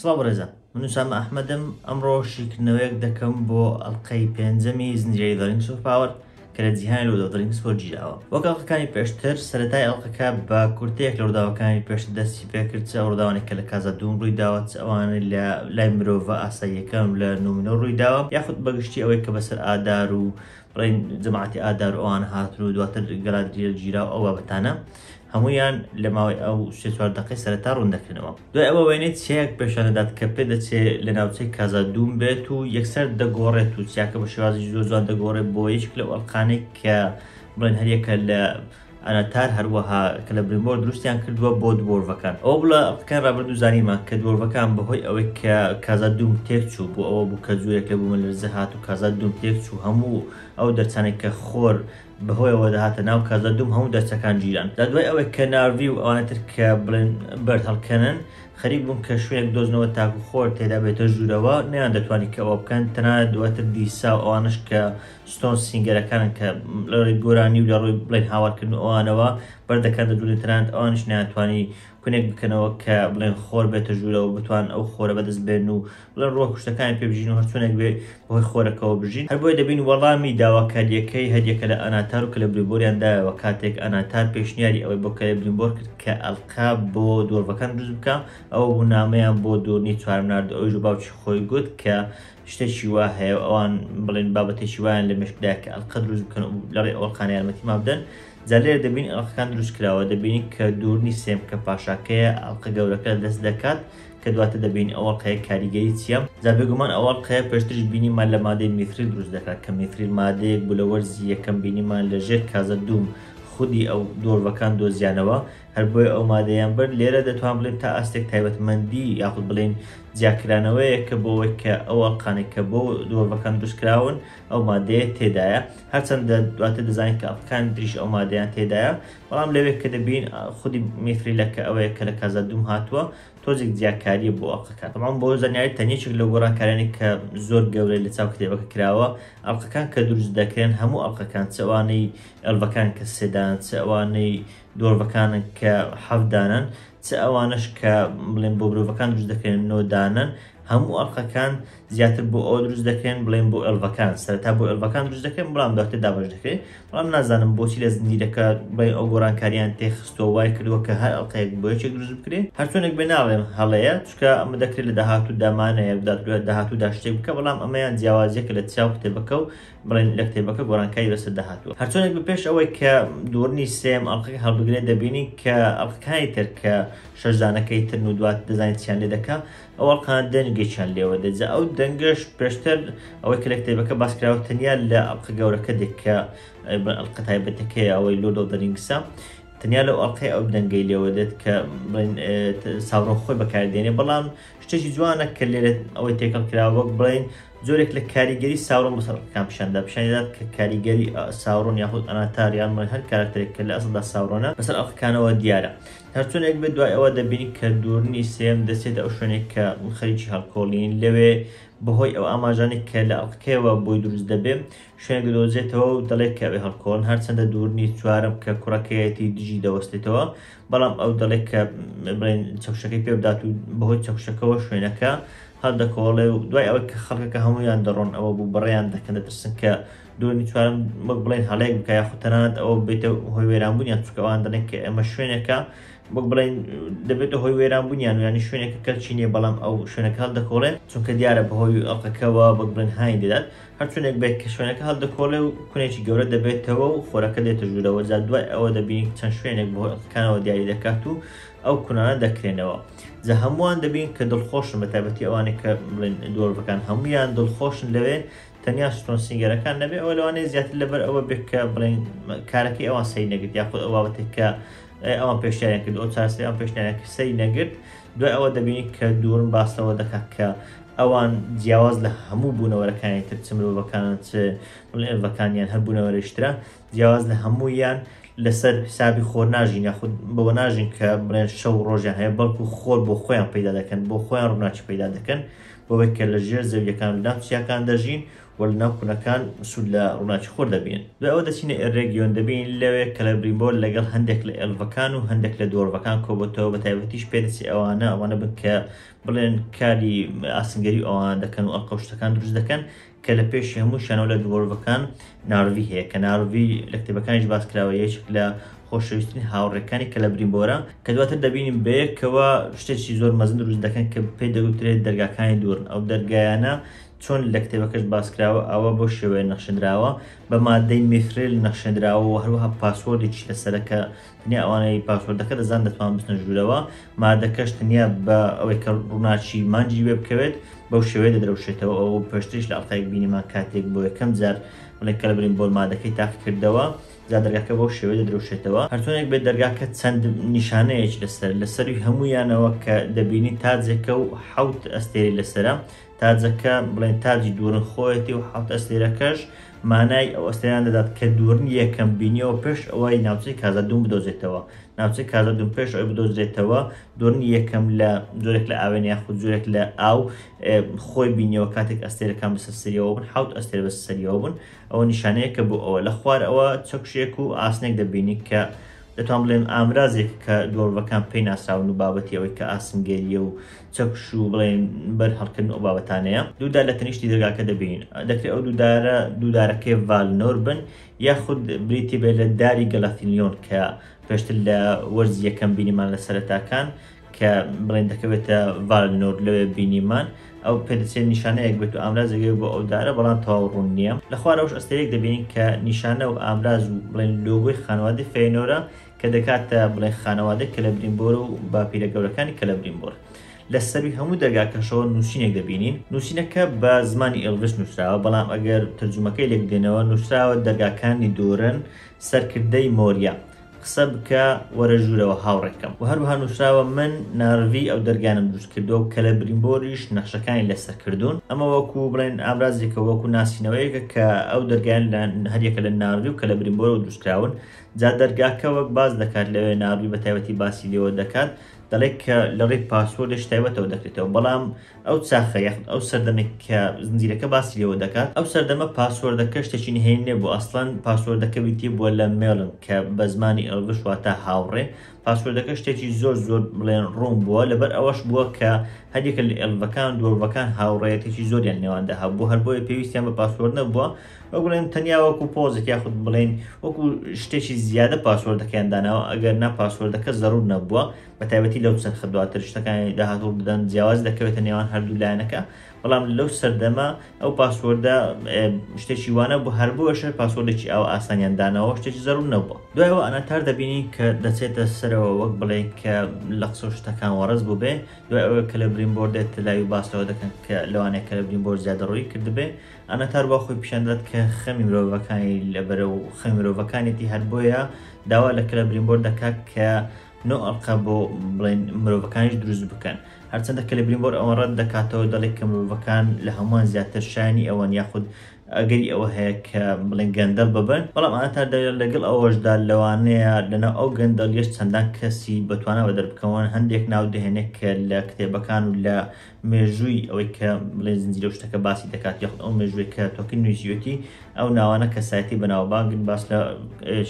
سڵاو بەڕێزان من نووسام ئەحمەدم ئەمڕۆ شیکردنەوەیەک دەکەم بۆ ئەڵلقەی پێنجەمی زنجیرەی دەڵین سوپاوەر کە لە جیهانی لەو دەڵین سپۆ گیراوە وەک ئەڵلقەکانی پێشتر سەرەتای ئەڵلقەکە بە کورتێک لە ڕووداوەکانی پێشتر دەستی پێکرد چ ڕووداوانێک کە لە کازا دوم ڕووی داوە چ ئەوانە لە لای مرۆڤە ئاساییەکان و لە نومنۆ ڕووی داوە یاخود بەگشتی ئەوەی کە بەسەر ئادار و ڕێی جەماعەتی ئادار ئەوان هاتن و دواتر گەرانتیە گیرا و ئەو بابەتانە هەموویان لە ماوەی ئەو سێ چوار دەقەی سەرەتا ڕوون دەکەنەوە دوای ئەوە وێنەی چیایەک پێشان دەدات کە پێ دەچێ لە ناوچەی کازا دووم بێت و یەکسەر دەگۆڕێت و چیاکە بە شێوازی زۆر جوان دەگۆڕێت بۆ یەکێک لەو ئەڵقانەی کە بڵێن هەر یەکە لە ئەناتار هەروەها کلبریمۆر دروستیان کردووە بۆ دوۆرڤەکان. ئەوە لە قسەکانی ڕابردوو زانیمان کە دوۆرڤەکان بەهۆی ئەوەی کە کازا دووم تێکچوو بۆ ئەوە بوو کە جۆرێک لە بوومەلەرزە هات و کازا دووم تێکچوو هەموو ئەو دەرچانەی کە خۆر بەهۆیەوە دەهاتە ناو کازا دووم هەموو دەرچەکان گیران جا دوای ئەوەی کە نارڤی و ئەوانە تر کە بڵێن بەرد هەڵکەنن خەریک بوون کە شوێنێک بدۆزنەوە تاکو خۆر تێدا بێتە ژوورەوە نەیاندەتوانی کە ئەوە بکەن تەنانەت دواتر دیسا و ئەوانەش کە ستۆنز سینگەرەکان کە لە ڕێی گۆرانی و لە ڕووی بڵێن هاوارکردن و ئەوانەوە بەردەکات لە دوورن تەنانەت ئەوانیش ناتوانانی کونێک بکەنەوە کە بڵێن خۆر بێتە ژوورەوە بتوان ئەو خۆرە بەدەست بێن و بڵێن ڕۆح کوشتەکانی پێ بژین و هەرچونێک بێ بەهۆی خۆرەکەەوە بژین هەر بۆی دەبین وەڵامی داواکاریەکەی هەریەکە لە ئەناتار و کە لە بریبۆریان دایەوە کاتێک ئەناتار پێشنیاری ئەوەی بۆ کەێ بریمبۆر کرد کە ئەلقا بۆ دۆربەکان دروست بکە ئەو بوونامەیان بۆ دۆرنی چوارم نرد ئەوژ باوکی خۆی گوت کە شتێکی وا هەیە ئەوان بڵێن بابەتێکی وایان لە مشکدا کە ئەلقە دروست بکەن و لەڕێ ئەوڵقان یارمەتی ما بدەن جالێ دەبین ئەڵقەکان دروست کراوە دەبینی کە دوورنی سێم کە پاشاکەیە ئەڵقە گەورەکە دەست دەکات کە دواتە دەبین ئەوە قەیە کاریگەری چیە زابێگومان ئەوە قەیە پێشترش بینیمان لە مادەی میتری دروست دەکات کە میتری مادەیەک بوو لە وەرزی یەکەم بینیمان لە ژێر کازە دووم خودی ئەو دۆرڤەکان دۆزیانەوە هەر بۆیە ئەو مادەیان برد، لێرە دەتوان بڵێین تا ئاستێک تایبەتمەندی یاخود بڵێین جیاکرانەوەیە کە بۆ ئەوەی کە ئەو ئەڵقانێک کە بۆ دۆڤەکان دروستکراون ئەو مادەیە تێدایە هەرچەندە دواتە دەزانین کە ئەڵقەکان دریش ئەو مادەیان تێدایە بەڵام لەوێک کە دەبین خودی میفریلەکە ئەوەیە کە لە کازا دوم هاتووە تۆزێک جیاکاریە بۆ ئەڵقەکان بەڵام بۆ زانیاری تەنیچێک لە گۆڕانکارانی کە زۆر گەورەی لە چاو کتێبەکە کراوە ئەڵلقەکان کە دروست دەکرێن هەموو ئەڵلقەکان چوانەی ئەلڤەکان کە سێدان چوانەی دۆرڤەکانن کە حەفت دانەن چ ئەوانەش کە بڵێن بۆ برۆڤەکان دروست دەکەن نۆ دانەن هەموو ئەڵقەکان زیاتر بۆ ئەو دروست دەکەن بڵێن بۆ ئەلڤەکان سەرتا بۆ ئەلڤەکان دروست دەکەن بەڵام داکتر دابش دەکەێت بەڵام نازانم بۆچی لە زنجیرەکە بڵێ ئەو گۆرانکاریان تێخستۆ وای کردووە کە هەر ئەڵلقەیەک بۆ یەکێک دروست بکرێت هەرچۆنێک بێ ناڵێم هەڵەیە چکە ئەمە دەکرێت لە داهات و دامانەیە داهات و داشتێک بکە بەڵام ئەمەیان جیاوازیەکە لە چاو کتێبەکە و بڵێن لە کتێبەکە گۆرانکاری بەسەر داهاتووە هەرچۆنێک بە پێش ئەوەی کە دوورنی سێم ئەڵلقەکە هەڵبگرێت دەبینین کە ئەڵلقەکانی تر کە شەشدانەکەی تر و دوات دەزانین چیان لێ دەکە ئەو ئەڵقان دەنگێکیان لێوە دەجا ئەو دەنگش پێشتر ئەوەی کە لە کتێبەکە باسکراوە تەنیا لە ئەڵلقە گەورەکە دێک کە ئەڵلقە تایبەتەکەی ئەوەی لۆ دەڵدەرینگسە تەنیا لەو ئەڵلقەی ئەو دەنگەی لێوە دێت کە ساڕۆ خۆی بەکاردێنێ بەڵام شتێکی جوانە کە لێرە ئەوەی تێکەڵ کراوە وەک بڵین جۆرێک لە کاریگەری ساورۆن بەسەر ڕقەکان پیشاندا پیشانیدات کە کاریگەری ساورۆن یاخود ئەناتاریان من هەر کارکتێک کە لە ئەسڵدا ساورۆنە بەسەر ئەڵقەکانەوە دیارە هەرچونێک بێ دوای ئەوە دەبینی کە دوورنی سێم دەسێت ئەو شوێنێک کە خەریکی هەڵکۆڵین لەوێ بەهۆی ئەو ئاماژانی کە لە ئەڵقەکەیەوە بۆی دروست دەبێ شوێن گەدۆزێتەوە و دەڵێت کەوێ هەڵکۆڵن هەرچەندە دوورنی چوارم کە کوڕەکەیەتی دژی دەوەستێتەوە بەڵام ئەو دەڵێت کە بڵێن چەوشەکەی پێ بدات و بەهۆی چەوشەکەەوە شوێنەکە هەردەکۆڵێ و دوای ئەوە کە خەڵکەکە هەمویان دەڕۆن ئەوە بوو بڕیان دەکەن دەترسن کە دومی چوارم وەک بڵێن هەڵەیەک بکە یاخو تەنانەت ئەوە بێتە هۆی وێرانبوونیان چکەوان دەڵێن کە ئەمە شوێنەکە وەک بڵێن دەبێتە هۆی وێرانبوونیان و ینی شوێنێکە کەلچینیە بەڵام ئەو شوێنەکە هەڵدەکۆڵێن چونکە دیارە بەهۆی ئەڵقەکەەوە وەک بڵێن هاین دەدات هەر چۆنێک بێت کە شوێنەکە هەڵدەکۆڵێ و کونێکی گەورە دەبێتەوە و خۆرەکە دێتە ژوورەوە جا دوای ئەوە دەبینی کە چەند شوێنێک بە هۆی ئەڵقەکانەوە دیاری دەکات و ئەو کونانە دەکرێنەوە جا هەمووان دەبین کە دڵخۆشن بە تایبەتی ئەوانێک کە بڵێن دۆرڤەکان هەمویان دڵخۆشن لەوێ تەنیا ستۆن سینگەرەکان نەبێ ئەوە لەوانەیە زیاتر لەبەر ئەوە بێت کە بڵێن کارەکەی ئەوان سەی نەگرت یاخود ئەو بابەتێک کە ئەوان پێشیان کرد ئەو چارەسەری ئەم پێشنیارەکە سەری نەگرت دوای ئەوە دەبینین کە دورم باس لەوە دەکات کە ئەوان جیاواز لە هەموو بوونەوەرەکانی تر چ مرۆڤەکانن چ ئێڤەکانیان هەر بوونەوەرەش ترە جیاواز لە هەموویان لەسەر حسابی خۆر ناژین یاخود بەوە ناژین کە بڵێن شەو ڕۆژیان هەیە بەڵکو خۆر بۆ خۆیان پیدا دەکەن بۆ خۆیان ڕووناچ پیدا دەکەن بۆەوەی کە لە ژێر زەویەکان دام چیاکان دەژین و لە ناو کونەکان سوود لە ڕووناکی خۆر دەبین. دوای ئەوە دەچینە ئێرێگیۆن دەبینین لەوێ کەلەبریمبۆر لەگەڵ هەندێک لە ئێلڤەکان و هەندێک لە دۆرڤەکان کۆبۆتەوە بە تایبەتیش پێ دەچێ ئەوانە ئەوانە بن کە بڵێن کاری ئاسنگەری ئەوانە دەکەن و ئەڵقە و شتەکان دروست دەکەن کە لە پێشی هەمووشیانەوە لە دۆرڤەکان نارڤی هەیە کە نارڤی لە کتێبەکانیش باس کراوە یەکێک لە خۆشەویستترین هاوڕێکانی کەلەبریمبۆرە کە دواتر دەبینین بەیەکەوە شتێکی زۆر مەزن دروست دەکەن کە پێی دەگوترێت دەرگاکانی دوورن ئەو دەرگایانە چۆن لە کتێبەکەش باسکراوە ئاوا بەو شێوەیە نەخشێنراوە بە مادەی میثریل نەخشێنراوە و هەروەها پاسوۆردێکیش لەسەرە کە تەنیا ئەوانەی پاسوۆردەکە دەزان دەتوان بچنە ژوورەوە مادەکەش تەنیا بە ئەوەی کە ڕووناچی مانجی وێ بکەوێت بەو شێوەیە دەدرەوشێتەوە ئەو پێشتریش لە ئەڵقەیەک بینیمان کاتێک بۆ یەکەم جار بڵێ کە لەبرین بۆل مادەکەی تاقی کردەوە جا دەرگاکە بەو شێوەیە دەدرەوشێتەوە هەرتۆنێک بێت دەرگاکە چەند نیشانەیەکی لەسەر لەسەروی هەموویانەوە کە دەبینی تاجێکە و حەوت ئەستێری لەسرە تاجەکە بڵێن تاجی دوورن خۆیەتی و حەوت ئەستێرەکەش مانای ئەو ئەستێران دەدات کە دوورن یەکەم بینیەوە پێش ئەوەی ناوچەی کازادوون بدۆزێتەوە ناوچەی کازادوون پێش ئەوەی بدۆزرێتەوە دوورن یەکەم لە جۆرێک لە ئاوێن یاخود جۆرێک لە ئاو خۆی بینیەوە کاتێک ئەستێرەکان بەسەر سەریەوە بن حوت ئەستێر بەسەر سەریەوە بن ئەوە نیشانەیە کە بۆ ئەوە لە خوار ئەوە چەکشێک و ئاسنێک دەبینی کە دەتوان بڵێن ئامرازێک کە دۆڵڤەکان پێی ناساون و بابەتی ئەوەی کە ئاسنگەریە و چەکش و بڵێن بەر هەڵکردن ئەو بابەتانەیە دوو دار لە تەنیشتی دەرگاکە دەبین دەکرێت ئەو دوو دارە دوو دارەکەی ڤالنۆر بن یاخود بریتی بێت لە داری گەلافیلیۆن کە پێشتر لە وەرز یەکەم بینیمان لە سەرەتاکان کە بڵێن دەکەوێتە ڤالنۆر لەوێ بینیمان ئەو پێدەچێت نیشانەیەک بێت و ئامرازێگەی بۆ ئەو دارە بەڵام تەواو ڕوون نییە لە خوارەوەش ئەستەیەک دەبینین کە نیشانە و ئامراز و بڵێن لۆگۆی خانواتی فێنۆرە کە دەکاتە بڵێ خانەوادەی کەلەبریمبۆر و باپیرە گەورەکانی کەلەبریمبۆر. لە سەرووی هەموو دەرگاکەشەوە نووسینێک دەبینین، نووسینەکە بە زمانی ئێڵڤش نووسراوە، بەڵام ئەگەر تەرجوومەکەی لێک بدەینەوە، نووسراوە دەرگاکانی دۆرن، سەرکردەی مۆریا، قسە بکە، وەرە ژوورەوە هاوڕێکەم. وە هەروەها نووسراوە من نارڤی ئەو دەرگانەم دروست کردووە و کەلەبریمبۆریش نەخشەکانی لەسەر کردوون. ئەمە وەکوو بڵێن ئامرازێکە، وەکوو ناسینەوەیەکە کە ئەو دەرگایانە هەریەکە لە نارڤی و کەلەبریمبۆرەوە دروست کراون. جا دەرگاکە وەک باس دەکات لەوێ ناروی بە تایبەتی باسی لێوە دەکات دەڵێت کە لە ڕێی پاسۆرێش تایبەتەوە دەکرێتەوە بەڵام ئەو چاخە یاخود ئەو سەردەمێک کە زنجیرەکە باسی لێوە دەکات ئەو سەردەمە پاسۆردەکە شتێکی نهێنی نەبوو ئەسڵەن پاسۆردەکە ویتی بووە لە مێڵن کە بە زمانی ئێڵڤش واتە هاوڕێ پاسۆردەکە شتێکی زۆر زۆر بڵێن ڕوون بووە لەبەر ئەوەش بووە کە هەریەکە لە ئێڵڤەکان دۆڵڤەکان هاوڕێەتێکی زۆریان نێواندا هەبوو هەر بۆیە پێویستیان بە پاسۆر نەبووە وەک بڵێن تەنیا وەکو پۆزێک یاخود بڵێن وەکو شتێکی زیادە پاسوەردەکەیان داناوە ئەگەر نا پاسوەردەکە زەرور نەبووە بە تایبەتی لەو چەرخە دواتر شتەکانی داهاتوو بدەن جیاواز دەکەوێتە نێوان هەردوو لایەنەکە بەڵام لەو سەردەمە ئەو پاسوەردە شتێکی وانە بۆ هەر بۆەشە پاسوەردێکی ئەو ئاسانیان داناوە شتێکی زەرور نەبووە دوایەوە ئەناتار دەبینین کە دەچێتە سەرەوە وەک بڵێ کە لە قسە شتەکان وەڕز بوو بێ دوای ئەوە کە لە برین بۆردێت لای باسەوە دەکەن کە لەوانەیە کە لە برین بۆر زیادە ڕووی کردبێ ئاناتار وا خۆی پیشان دەدات کە خەمی مرۆڤەکانی لەبەرە و خەمی مرۆڤەکانێتی هەر بۆیە داوا لە کلە برینبۆر دەکات کە نۆ ئەڵقە بۆ بڵێن مرۆڤەکانیش دروست بکەن هەرچەندە کە لە برینبۆر ئەوە ڕەت دەکاتەوە دەڵێک کە مرۆڤەکان لە هەمووان زیاتر شانی ئەوەن یاخود ئەگەری ئەوە هەیە کە بڵێن گەندەڵ ببن بەڵام ئاتار دەگەر لەگەڵ ئەوەشدا لەوانەیە لەناو ئەو گەندەڵیش چەندان کەسی بەتوانا بە دەربکەون هەندێک ناو دەهێنێت کە لە کتێبەکان و لە مێژووی ئەوەی کە بڵێ زنجیرە و شتەکە باسی دەکات یاخود ئەو مێژووی کە تۆکن نوێژیوەتی ئەو ناوانە کەسایەتی بەناوبانگن باس لە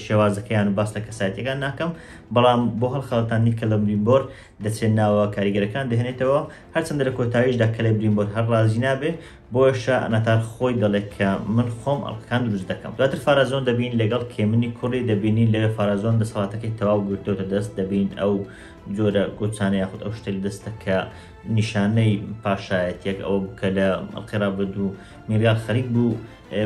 شێوازەکەیان و باس لە کەسایەتەکان ناکەم بەڵام بۆ هەڵخەڵەتانی کە لە بریمبۆر دەچێت ناوە کاریگەرەکان دەهێنێتەوە هەرچەندە لە کۆتاییشدا کە لە بریمبۆر هەر ڕازی نابێ بۆشە ئەناتار خۆی دەڵێت کە من خۆم ئەڵقەکان دروست دەکەم دواتر فارازۆن دەبین لەگەڵ کێمنی کوڕی دەبینین لەوێ فارازۆن دەسەڵاتەکەی تەواو گرتوتە دەست دەبین ئەو جۆرە گۆچانە یاخود ئەو شتە لە دەستە کە نیشانەی پاشایەتێک ئەوە بوو کە لە ئەڵقی ڕابرد و میرگال خەریک بوو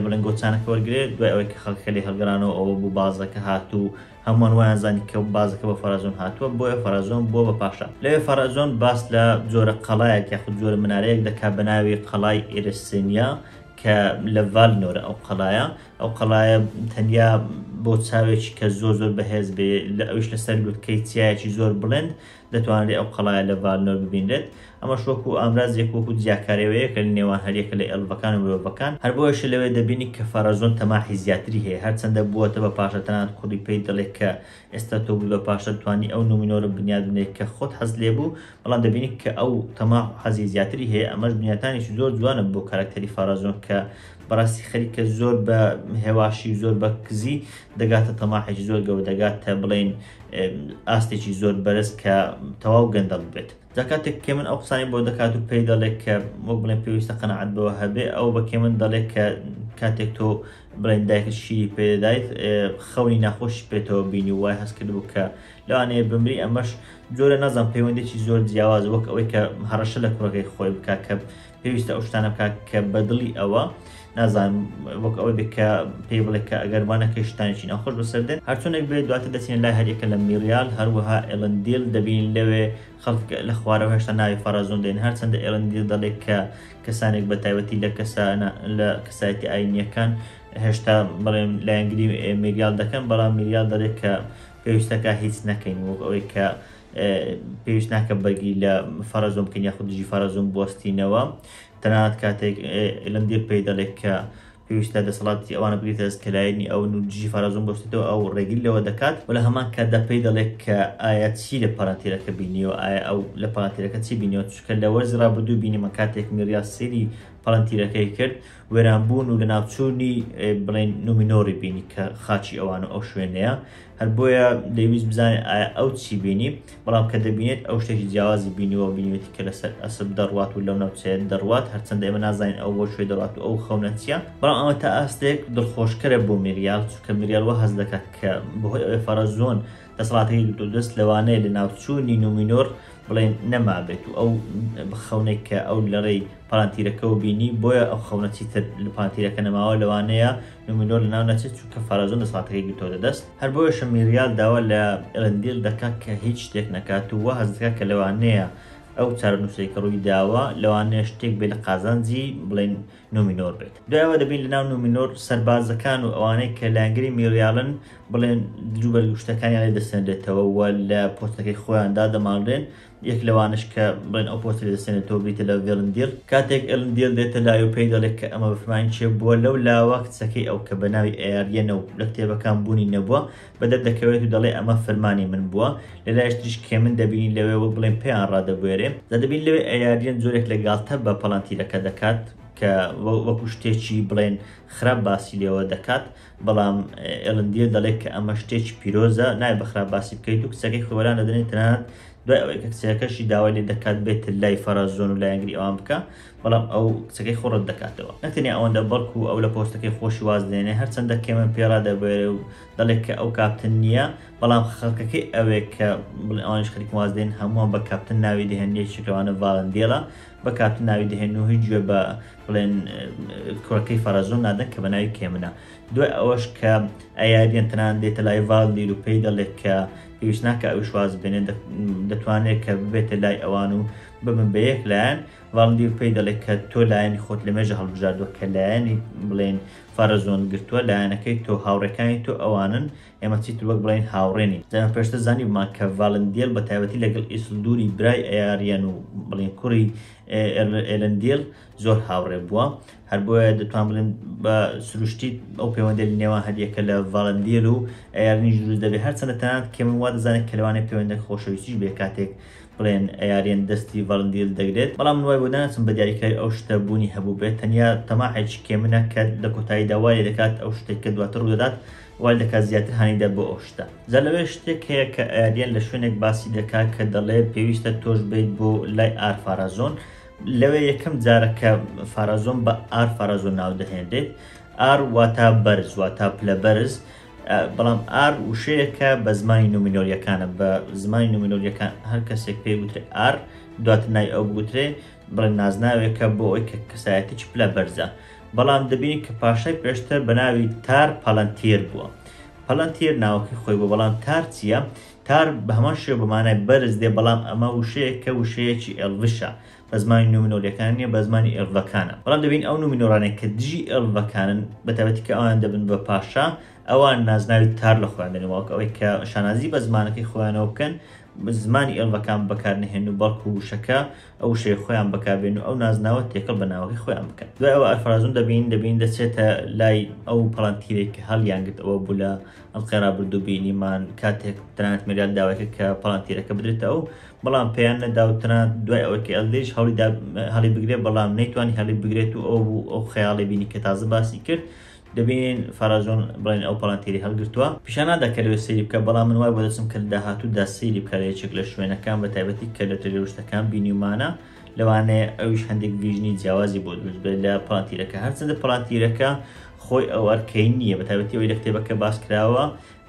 بڵێن گۆچانەکە وەرگێت دوای ئەوەی کە خەڵکە لێ هەڵگرانەوە ئەوە بوو بازەکە هاتوو هەمووان وایان زانی کە بازەکە بە فەرازۆن هاتووە بۆیە فەرازۆن بۆ بە پاشا لەوێ فەرازۆن باس لە جۆرە قەڵایەک یاخود جۆرە منارەیەک دەکا بە ناوی قەڵای ئێرسێنیا کە لە ڤالنۆرە ئەو قەڵایە ئەو قەڵایە تەنیا بۆ چاوێکی کە زۆر زۆر بەهێز بێ لە ئەوش لەسەر لوتکەی چیایەکی زۆر بڵند دەتوانێت ئەو قەڵایە لە ڤالنۆر ببینرێت ئەمەش وەکو ئامرازێک وەکو جیاکارەوەیەکە لە نێوان هەریەکە لە ئێڵڤەکان و مرۆڤەکان هەر بۆیەشە لەوێ دەبینی کە فەرەزۆن تەماحی زیاتری هەیە هەرچەندە بووەتە بە پاشا تەنانەت کوڕی پێی دەڵێت کە ئێستا تۆ بوو لەو پاشە توانی ئەو نومینۆرە بنیات بنێ کە خۆت حەزت لێ بوو بەڵام دەبینی کە ئەو تەماح و حەزی زیاتری هەیە ئەمەش بنیاتانێکی زۆر جوانە بۆ کارەکتەری فارازۆن کە بەڕاستی خەریکە زۆر بە هێواشی و زۆر بە کزی دەگاتە تەماحێکی زۆر گەورە دەگاتە بڵێن ئاستێکی زۆر بەرز کە تەواو گەندەڵ بێت جا کاتێک کە من ئەو قسانی بۆ دەکات و پێی دەڵێت کە وەک بڵێن پێویستە قەنەعەت بەوە هەبێ ئەو بە کێ من دەڵێت کە کاتێک تۆ بڵێن دایکت شیری پێدەدایت خەونی ناخۆشی پێێتەوە بینی وای هەست کردبوو کە لەوانەیە بمری ئەمەش جۆرە نازان پەیوەندێکی زۆر جیاواز وەک ئەوەی کە هەڕەشە لە کوڕەکەی خۆی بکە کە پێویستە ئەو شتانە بکە کە بەدڵی ئەوە نازان وەک ئەوەی بکە پێی بڵێ کە ئەگەر وانەکەی شتانێکی ناخۆش بەسەر دێت هەرچونێک بێت دواتە دەچێن لای هەریەکە لە میریال هەروەها ئێلندیل دەبین لەوێ خەڵک لە خوارەوە هێشتا ناوی فەرەزون دێن هەرچەندە ئێڵندی دەڵێت کە کەسانێک بە تایبەتی لە کەسانە لە کەسایەتی ئاینیەکان هێشتا بڵێم لایەنگری میریال دەکەن بەڵام میریال دەڵێت کە پێویستەکە هیچ نەکەین وەک ئەوەی کە پێویست ناکە بەرگی لە فەرەزۆم بکەین یاخود دژی فەرەزۆم بستینەوە تەنانەت کاتێک ئێلندێ پێی دەڵێت کە پێویستە دەسەڵات ئەوانە بگرێتە دەست کە لایەنی ئەون و دژی فارەزۆن بوەستێتەوە ئەو ڕێگری لەوە دەکات و لە هەمان کاتدا پێی دەڵێت کە ئایا چی لە پەڕەتیرەکە بینیوە ئایا ئەو لە پەڕەتیرەکە چی بینیوە چونکە لە وەرزی ڕابردوو بینیمان کاتێک میڕیا سەیری پەڵەنتیرەکەی کرد وێرانبوون و لەناوچوونی بڵێن نومینۆری بینی کە خاچی ئەوان و ئەو شوێنەیە هەر بۆیە دەیویست بزانێت ئایا ئەو چی بینی، بەڵام کە دەبینێت ئەو شتێکی جیاوازی بینیوە و بینیوێتی کە لەسەر ئەسپ دەڕوات و لەو ناوچەیە دەڕوات، هەرچەندە ئێمە نازانین ئەو بۆ کوێ دەڕوات و ئەو خەونە چییە، بەڵام ئەمە تا ئاستێک دڵخۆشکەرە بۆ میریال، چونکە میریال وا هەست دەکات کە بەهۆی ئەوەی فەرەزۆن دەسەڵاتەکەی گرتووە دەست، لەوانەیە لەناوچوونی نومینۆر بڵێین نەمابێت و ئەو خەونەی کە ئەو لەڕێی پالانتیرەکەوە بینی، بۆیە ئەو خەونە چیتر لە پالانتیرەکە نەماوە، لەوانەیە نومینۆر لەناو نەچێت چونکە فارازۆن دەسەڵاتەکەی گرتۆتە دەست، هەر بۆیەشە میریال داوا لە ئێلەندیل دەکات کە هیچ شتێک نەکات و وا هەست دەکات کە لەوانەیە ئەو چارەنووسەی کە ڕووی داوە لەوانەیە شتێک بێت لە قازانجی بڵێین نومینۆر بێت دوای ئەوە دەبین لەناو نومینۆر سەربازەکان و ئەوانەی کە لایەنگری میریالن بڵێن دروبەرگ و شتەکانیان لێ دەسەنرێتەوە و لە پۆستەکەی خۆیان دادەماڵرێن یەک لەوانەش کە بڵێن ئەو پۆستەی لێدەسێنێتەوە بریتیە لە ڤێلندیڕ، کاتێک ئێلندیڕ دێتە لای و پێی دەڵێت کە ئەمە بەفرمانی چێ بووە، لەو لاوە کچەکەی ئەو کە بەناوی ئەیاریەنە و لە کتێبەکان بوونی نەبووە بەدەردەکەوێت و دەڵێت ئەمە فەرمانی من بووە، لەلایش تریش کێمن دەبینین لەوێ وەک بڵێن پێیان ڕادەبوێرێ، جا دەبینین لەوێ ئەیاریەن جۆرێک لە گاڵتە بە پەڵەنتیرەکە دەکات کە وەکو شتێکی بڵێن خراپ باسی لێوە دەکات، بەڵام ئێلن دیر دەڵێت کە ئەمە شتێکی پیرۆزە نای بەخراپ باسی بکەیت و کچەکەی خۆی وەلان دەدەنێت تەنانەت دوای ئەوەی کە کچەکەشی داوای لێ دەکات بێت لای فەرازۆن و لایەنگری ئەوان بکە بەڵام ئەو کچەکەی خۆ ڕەت دەکاتەوە نەتەنیا ئەوەندە بەڵکو ئەو لە پۆستەکەی خۆشی واز دێنێ هەرچەندە کێمن پێ ڕادەبوێرێ و دەڵێت کە ئەو کاپتن نییە بەڵام خەڵکەکەی ئەوێ کە بڵێ ئەوانیش خەریک واز دێن هەمووان بە کاپتن ناوی دەهێن یەکێک لەوانە ڤاڵندێڵە بە کاپتن ناوی دەهێن و هیچ گوێ بە بڵێن کوڕەکەی فەرەزۆن نادەن کە بە ناوی کێمنە دوای ئەوەش کە ئەیاریان تەنان دێتە لای ڤالدیر و پێی دەڵێت کە پێویست ناکە ئەو شواز بێنێ دەتوانێت کە ببێتە لای ئەوان و ببن بە یەک لایەن ڤالدیر پێی دەڵێت کە تۆ لایەنی خۆت لە مێژە هەڵبژاردووە کە لایەنی بڵێن فارەزۆن گرتووە لایەنەکەی تۆ هاوڕەکانی تۆ ئەوانن ئێمە چیتر وەک بڵێن هاوڕێنی دەم پێشتە زانیمان کە ڤالندیل بە تایبەتی لەگەڵ ئیسلدوری برای ئەیاریان و بڵێن کوڕی ئێرندیل زۆر هاوڕێ بووە هەر بۆیە دەتوان بڵێن بە سروشتی ئەو پەیوەندە نێوان هەریەکە لە ڤالندیل و ئەیارنیش دروست دەبێت هەرچەندە تەنانەت کێمن وا دەزانێت کە لەوانێت پەیوەندە خۆشەویستیش بێ کاتێک بڵێن ئەیارێن دەستی ڤەڵندیل دەگرێت بەڵام نوای بۆ ناسم بە دیاریکراوی ئەو شتە بوونی هەبوو بێت تەنیا تەماحێکی کێمنە کە لە کۆتایی داوای دەکات ئەو شتێک کە دواتر ڕوودەدات وای دەکات زیاتر هانیدە بۆ ئەو شتە. جا لەوێ شتێک هەیە کە ئاریەن لە شوێنێک باسی دەکا کە دەڵێ پێویستە تۆش بێیت بۆ لای ئار فارازۆن لەوێ یەکەم جارە کە فارازۆن بە ئار فارازۆن ناو دەهێنرێت ئار واتا بەرز واتا پلە بەرز بەڵام ئار وشەیەکە بە زمانی نومینۆریەکانە بە زمانی نومینۆریەکان هەر کەسێک پێ وترێ ئار دواتر نای ئەو بگوترێ بڵێ نازناوێکە بۆ ئەوی کە کەسایەتیی پلە بەرزە بەڵام دەبینین کە پاشای پێشتر بە ناوی تار پەلەنتیر بووە پەلەنتیر ناوەکەی خۆی بۆ بەڵام تار چییە تار بە هەمان شێ بەمانای بەرز دێ بەڵام ئەمە وشەیە کە وشەیەکی ئێلڤشە بە زمانی نومنۆریەکان نیە بە زمانی ئێلڤەکانە بەڵام دەبین ئەو نومنۆرانێک کە دژی ئێلڤەکانن بەتابەتی کە ئەوان دەبن بە پاشا ئەوان نازناوی تار لە خۆیان دەنێ واک ئەوەی کە شانازی بە زمانەکەی خۆیانەوە بکەن زمانی ئێلڤەکان بەکارنەهێن و بەڵکو وشەکە ئەو وشەیە خۆیان بەکاربێن و ئەو نازناوە تێکەڵ بە ناوەکەی خۆیان بکەن دوای ئەوە ئەلفەرازون دەبین دەبین دەچێتە لای ئەو پەڵەنتیرێک کە هەڵیانگرت ئەوە بوو لە ئەڵقەی ڕابردوو بینیمان کاتێک تەنانەت مێریال داوایکە کە پەڵەنتیرەکە بدرێتە ئەو بەڵام پێیان نەدا و تەنانەت دوای ئەوەی کە ئەلدریش هەڵی دا هەڵی بگرێت بەڵام نەیتوانی هەڵی بگرێت و ئەو بوو ئەو خەیاڵی بینی کە تازە باسی کرد دەبینین فەرەجۆن بڵێن ئەو پەڵەنتیری هەڵگرتووە پیشان نادات کە لەوێ سەیری بکات بەڵام من وای بۆ دەچم کە لە داهاتوودا سەیری بکات لە یەکێک لە شوێنەکان بە تایبەتی کە لۆتەری ڕشتەکان بینیومانە لەوانەیە ئەویش هەندێک ڤیژنی جیاوازی بۆ دروست بێت لە پڵانتیرەکە هەرچەندە پڵانتیرەکە خۆی ئەو ئەرکەی نییە بە تایبەتی ئەوی لە کتێبەکە باس کراوە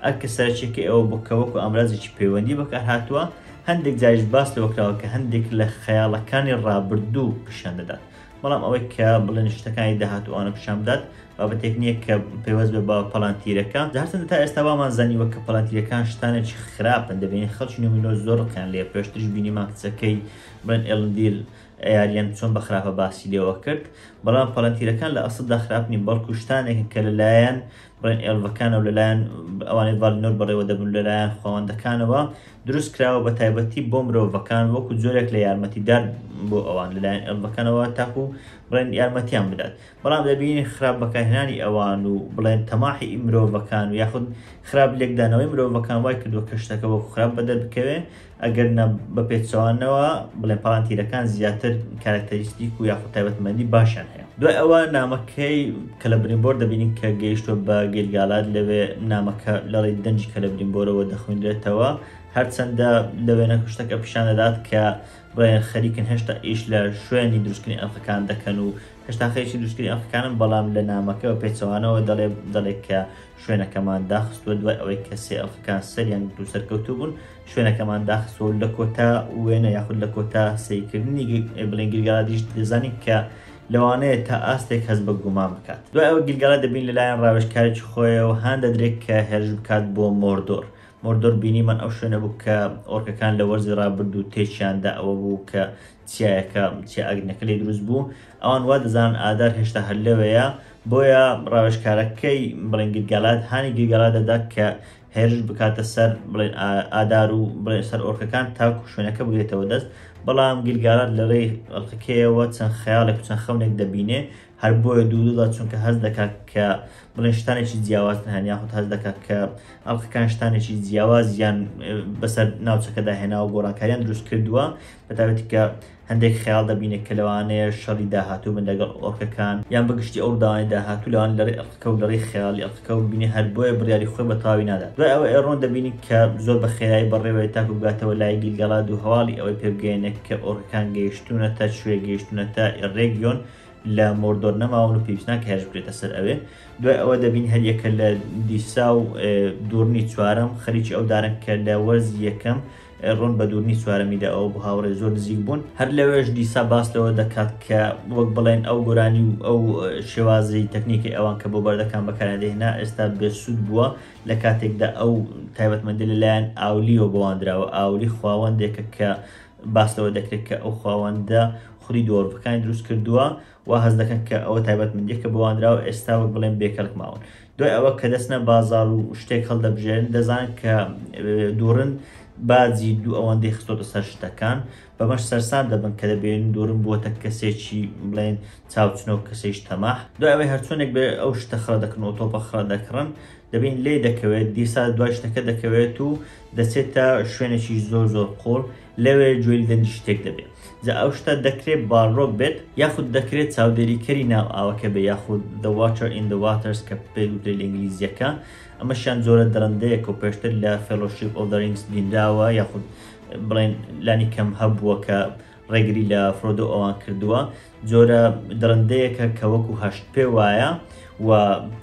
ئەرکە سەرچێکی ئەوە بۆ کە وەکو ئامرازێکی پەیوەندی بەکار هاتووە هەندێک جاریش باس لەوە کراوە کە هەندێک لە خەیاڵەکانی ڕابردوو پیشان دەدات بەڵام ئەوەی کە بڵێن شتەکانی داهاتوو ئەوانە پیشان بدات بابەتێک نییە کە پەیوەست بێ بە پەڵانتیرەکە جارسەن تا ئێستا وامان زانیوە کە پەڵانتیرەکان شتانێکی خراپن دەبێن خەڵکی نومینۆ زۆر ڕقیان لێ پێشتریش بینیمان کچەکەی بڵێن ئێلندیل ئەیاریان چۆن بە خراپە باسی لێوە کرد بەڵام پەڵەنتیرەکان لە ئەسڵدا خراپنی بەڵکو شتانێکن کە لەلایەن بڵێن ئێڵڤەکان و لەلایەن ئەوانەی ڤالینۆر بەڕێوە دەبن لەلایەن خواوەندەکانەوە دروست کراوە بە تایبەتی بۆ مرۆڤەکان وەکو جۆرێک لە یارمەتیدار بۆ ئەوان لەلایەن ئێڵڤەکانەوە تاکو بڵێن یارمەتیان بدات بەڵام دەبین خراپ بەکارهێنانی ئەوان و بڵێن تەماحی مرۆڤەکان و یاخود خراپ لێکدانەوەی مرۆڤەکان وای کردووە کەشتەکە وەکو خراپ بەدەر بکەوێ ئەگەر نا بە پێچەوانەوە بڵێ پاڵانتیرەکان زیاتر کارکتەریستیک و یاخود تایبەتمەندی باشیان هەیە دوای ئەوە نامەکەی کەلەبرینبۆر دەبینین کە گەیشتوە بە گەیلگالات لەوێ نامەکە لەڵی دەنجی کەلەبرینبۆرەوە دەخوێنرێتەوە هەرچەندە لە وێنە کوشتەکە پیشان دەدات کە بڵێن خەریکن هێشتا ئیش لە شوێنی دروستکردنی ئەڵقەکان دەکەن و هێشتا خەریکی دروستکردنی ئەڵقەکانن بەڵام لە نامەکەەوە پێچەوانەوە دەڵێ دەڵێت کە شوێنەکەمان داخستووە دوای ئەوەی کە سێ ئەڵخەکان سەریان گرت و سەرکەوتوو بوون شوێنەکەمان داخستوە لە کۆتا وێنە یاخود لە کۆتا سیکردنی بڵێن گرگادیش دەزانین کە لەوانەیە تا ئاستێک هەز بە گومان بکات دوای ئەوە گرگەڵە دەبین لەلایەن ڕاوێشکارێک خۆیەوە هان دەدرێت کە هێرش بکات بۆ مۆردۆر مۆردۆر بینیمان ئەو شوێنە بوو کە ئۆرکەکان لە وەرزی ڕابرد و تێچیاندا ئەوە بوو کە چیایەکە چیا ئەگنەکە لێ دروست بوو ئەوان وا دەزان ئادار هێشتا هەر لەوەیە بۆیە ڕاوێژکارەکەی بڵێن گرگالات هانی گرگالا دەدات کە هێرش بکاتە سەر بڵێن ئادار و بڵێن سەر ئۆرکەکان تاکو شوێنەکە بگرێتەوە دەست بەڵام گرگالات لە ڕێی ئەڵقەکەیەوە چەند خەیاڵێک و چەند خەونێک دەبینێ هەر بۆیە دوودودا چونکە هەز دەکات کە بڵێن شتانێکی جیاواز هەن یاخود هەز دەکات کە ئەڵقەکان شتانێکی جیاواز یان بەسەر ناوچەکەدا هێناوە گۆڕانکاریان دروست کردووە بە تایبەتی کە هەندێک خەیاڵ دەبینێ کە لەوانەیە شەڕی داهاتوو بن لەگەڵ ئۆرکەکان یان بە گشتی ئەو ڕووداوانەی داهاتوو لەوان لە ڕێی ئەقڵکە و لە ڕێی خەیاڵی ئەقڵکە و بینێ هەر بۆیە بڕیاری خۆی بە تەواوی نادات دوای ئەوە ئێڕۆن دەبینین کە زۆر بە خێرایی بەڕێوەیە تاکوو بگاتەوە لای گیلگالاد و هەواڵی ئەوەی پێ بگەیەنێ کە ئۆرکەکان گەیشتوونەتە کوێ گەیشتوونەتە ئێڕێگیۆن لە مۆردۆر نەماون و پێویست ناکە هێرش بکرێتە سەر ئەوێ دوای ئەوە دەبین هەر یەکە لە دیسا و دووڕنی چوارەم خەریکی ئەو دارن کە لە وەرزی یەکەم ڕۆن بە دوورنی چوارەمیدا ئەو بۆ هاوڕێ زۆر نزیک بوون هەر لەوێش دیسا باس لەوە دەکات کە وەک بڵێن ئەو گۆرانی و ئەو شێوازی تەکنیکی ئەوان کە بۆ بەردەکان بەکاریان دەهێنا ئێستا بێسوود بووە لە کاتێکدا ئەو تایبەتمەندی لەلایەن ئاولیەوە بۆواندراوە ئاولی خواوەندێکە کە باس لەوە دەکرێت کە ئەو خواوەندە خولی دۆڕڤەکانی دروست کردووە وا هەست دەکەن کە ئەوە تایبەتمەندییە کە بە وانراوە ئێستا وەک بڵێن بێکەڵک ماون. دوای ئەوە کە دەچنە بازاڕ و شتێک هەڵدەبژێرن، دەزانن کە دووڕن باجی دوو ئەوەندەی خستۆتە سەر شتەکان، بەمەش سەرسام دەبن کە دەبینن دووڕن بووەتە کەسێکی بڵێن چاوچنۆک، کەسێکی تەماح. دوای ئەوەی هەرچۆنێک بێت ئەو شتە خڕە دەکڕن و تۆپە خڕە دەکڕن، دەبینن لێی دەکەوێت، دیسا دوای شتەکە دەکەوێت و دەچێتە شوێنێکی زۆر زۆر قووڵ، لەوێ گوێی دەنگی شتێک دەبێت جا ئەو شتە دەکرێت باڵۆک بێت یاخود دەکرێت چاودێریکەری ناو ئاوەکە بێت یاخود The Watcher in the Waters کە پێی وترێت لە ئینگلیزییەکە ئەمەشیان جۆرە دڕندەیەک و پێشتر لە Fellowship of the Rings بینراوە یاخود بڵێن لانی کەم هەبووە کە ڕێگری لە فرۆدۆ ئەوان کردووە جۆرە دڕندەیەکە کە وەکو هەشتپێ وایە و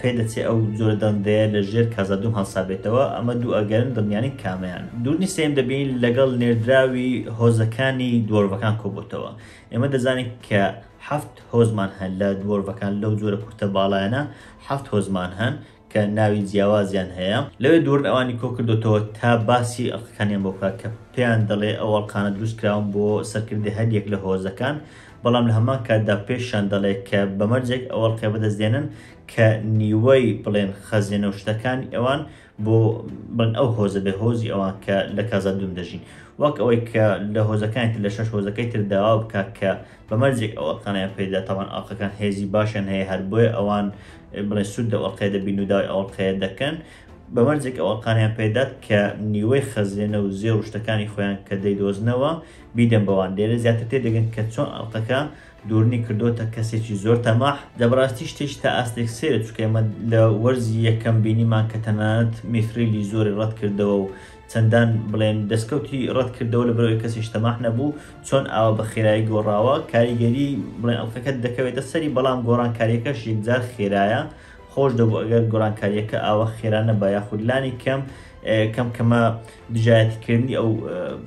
پێدەچێ ئەو جۆرە دڕندەیە لە ژێر کازادوم هەڵسابێتەوە، ئەمە دوو ئەگەرن دڵنیانین کامەیان. دوورنی سێیەم دەبین لەگەڵ نێردراوی هۆزەکانی دوۆرڤەکان کۆبۆتەوە. ئێمە دەزانین کە حەفت هۆزمان هەن لە دوۆرڤەکان لەو جۆرە کورتە باڵایانە حەفت هۆزمان هەن کە ناوی جیاوازیان هەیە لەوێ دوورن ئەوانی کۆکردۆتەوە تا باسی ئەڵقەکانیان بۆ بکات کە پێیان دەڵێ ئەو ئەڵقانە دروست کراون بۆ سەرکردی هەر یەک لە هۆزەکان بەڵام لە هەمان کاتدا پێشیان دەڵێ کە بەمەرجێک ئەو ئەڵقەیە بەدەست دێنن کە نیوەی بڵێن خەزێنە و شتەکانی ئەوان بۆ بڵێن ئەو هۆزە بێ هۆزی ئەوان کە لە کازا دوم دەژین وەک ئەوەی کە لە هۆزەکانی تر لە شەش هۆزەکەی تر داوا بکات کە بە مەرجێک ئەو ئەڵقانەیان پێ دەدات تاوان ئەڵقەکان هێزی باشیان هەیە هەر بۆیە ئەوان بڵێ سوود لەو ئەڵقەیە دەبین و داوای ئەو ئەڵقەیە دەکەن بە مەرجێک ئەو ئەڵقانیان پێ دەدات کە نیوەی خەزێنە و زێ و شتەکانی خۆیان کە دەیدۆزنەوە بیدەن بەوان لێرە زیاتر تێ دەگەن کە چۆن ئەڵقەکە دوورنی کردووەتە کەسێکی زۆر تەماح دە بەڕاستی شتێکی تا ئاستێک سەیرە چونکە ئێمە لە وەرزی یەکەم بینیمان کە تەنانەت میثریلی زۆری ڕەت کردەوە و چەندان بڵێن دەستکەوتی ڕەت کردەوە لەبەر ئەوەی کەسیش تەماح نەبوو، چۆن ئاوا بە خێرایی گۆڕاوە، کاریگەریی بڵێن ئەڵقەکە دەکەوێتە سەری، بەڵام گۆڕانکارییەکەش یەکجار خێرایە، خۆش دەبوو ئەگەر گۆرانکارییەکە ئاوا خێرا نەبا یاخود لانی کەم کەم کەمە دژایەتیکردنی ئەو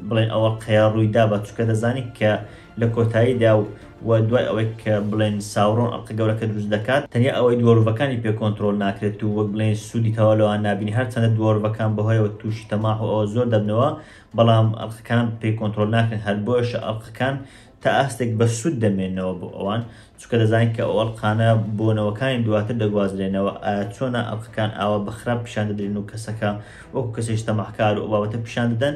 بڵێن ئەوەڵقەیە ڕووی دابا، چونکە دەزانی کە لە کۆتاییدا و و دوای ئەوەی کە بڵێین ساورۆن ئەڵقە گەورەکە دروست دەکات، تەنیا ئەوەی دوۆرڤەکانی پێ کۆنترۆل ناکرێت و وەک بڵێین سوودی تەواو لەوان نابینێت، هەرچەندە دوۆرڤەکان بەهۆیەوە تووشی تەماح و ئەوە زۆر دەبنەوە، بەڵام ئەڵقەکان پێی کۆنترۆل ناکرێن، هەر بۆیەشە ئەڵقەکان تا ئاستێک بە سوود دەمێنەوە بۆ ئەوان، چونکە دەزانن کە ئەو ئەڵقانە بۆ نەوەکانی دواتر دەگوازرێنەوە، ئایا چۆنە ئەڵقەکان ئاوا بە خراپ پیشان دەدرێن و کەسەکە وەکو کەسێکی تەماحکار و ئەو بابەتە پیشان دەدەن،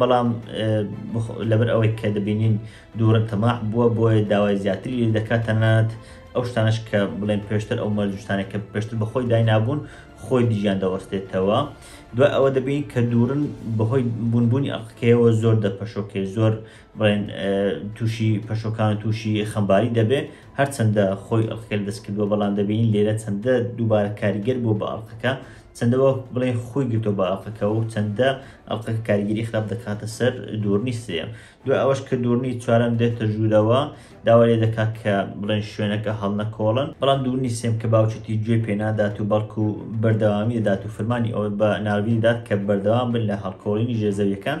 بەڵام لەبەر ئەوەی کە دەبینین دوورن تەماح بووە بۆیە داوای زیاتری لێ دەکات تەنانەت ئەو شتانش کە بڵێن پێشتر ئەو مەرجشتانێک کە پێشتر بەخۆی داینابوون خۆی دیژیان دەوەستێتەوە دوای ئەوە دەبین کە دوورن بەهۆی بوونبوونی ئەقکەیەوە زۆر دەپەشۆکێ زۆر بڵێن تووشی پەشۆکان و تووشی خەمباری دەبێ هەرچەندە خۆی ئەقکەل دەستکردووە بەڵام دەبین لێرە چەندە دووبارە کاریگەر بوو بە ئەڵقەکە چەندە وەک بڵێی خۆی گرتوە بە ئەڵقەکە و چەندە ئەڵقەکە کاریگەری خراپ دەکاتە سەر دورنی سێیەم دوای ئەوەش کە دورنی چوارەم دێتە ژوورەوە داوا لێ دەکات کە بڵێن شوێنەکە هەڵنەکۆڵن بەڵام دورنی سێم کە باوکێتی گوێ پێ نادات و بەڵکو بەردەوامی دەدات و فەرمانی ئەوە بە ناروی دەدات کە بەردەوام بن لە هەڵکۆڵینی ژێرزەویەکان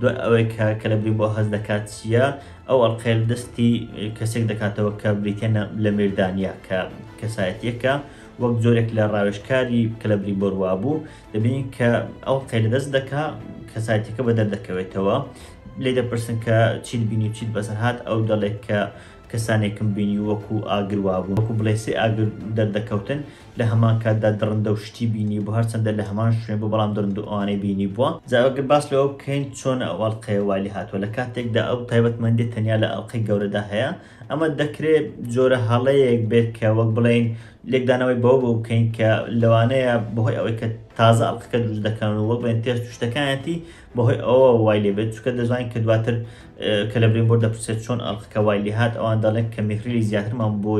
دوای ئەوەی کە کەلەبری بۆ هەست دەکات چییە، ئەو ئەڵقەیە لە دەستی کەسێک دەکاتەوە کە بریتییە لە میردانیا کە کەسایەتییەکە وەک جۆرێک لە ڕاوێژکاری کەلەبری بۆ ڕوابوو، دەبینین کە ئەو قەی لە دەست دەکا کەسایەتییەکە بە دەردەکەوێتەوە لێی دەپرسن کە چیت بینی و چیت بەسەر هات، ئەو دەڵێت کە کەسانێکم بینی وەکو ئاگر وابوون وەکو بڵێی سێ ئاگر دەردەکەوتن لە هەمان کاتدا دڕندە و شتی بینیبوو هەرچەندە لە هەمان شوێن بوو بەڵام دڕندە و ئەوانەی بینیبووە جا ئەگەر باس لەوە بکەین چۆن ئەو ئەڵقەیە وای لێ هاتووە لە کاتێکدا ئەو تایبەتمەندیە تەنیا لە ئەڵقەی گەورەدا هەیە ئەمە دەکرێ جۆرە هەڵەیەک بێت کە وەک بڵێین لێکدانەوەی بەوە بۆ بکەین کە لەوانەیە بەهۆی ئەوەی کە تازە ئەڵقەکە دروست دەکەن و وەک بڵێن تێست و شتەکانیەتی بەهۆی ئەوەوە وای لێ بێت، چونکە دەزانین کە دواتر کە لە برێنبۆرد دەپرسێت چۆن ئەڵقەکە وای لێ هات، ئەوان دەڵێن کە میثریلی زیاترمان بۆ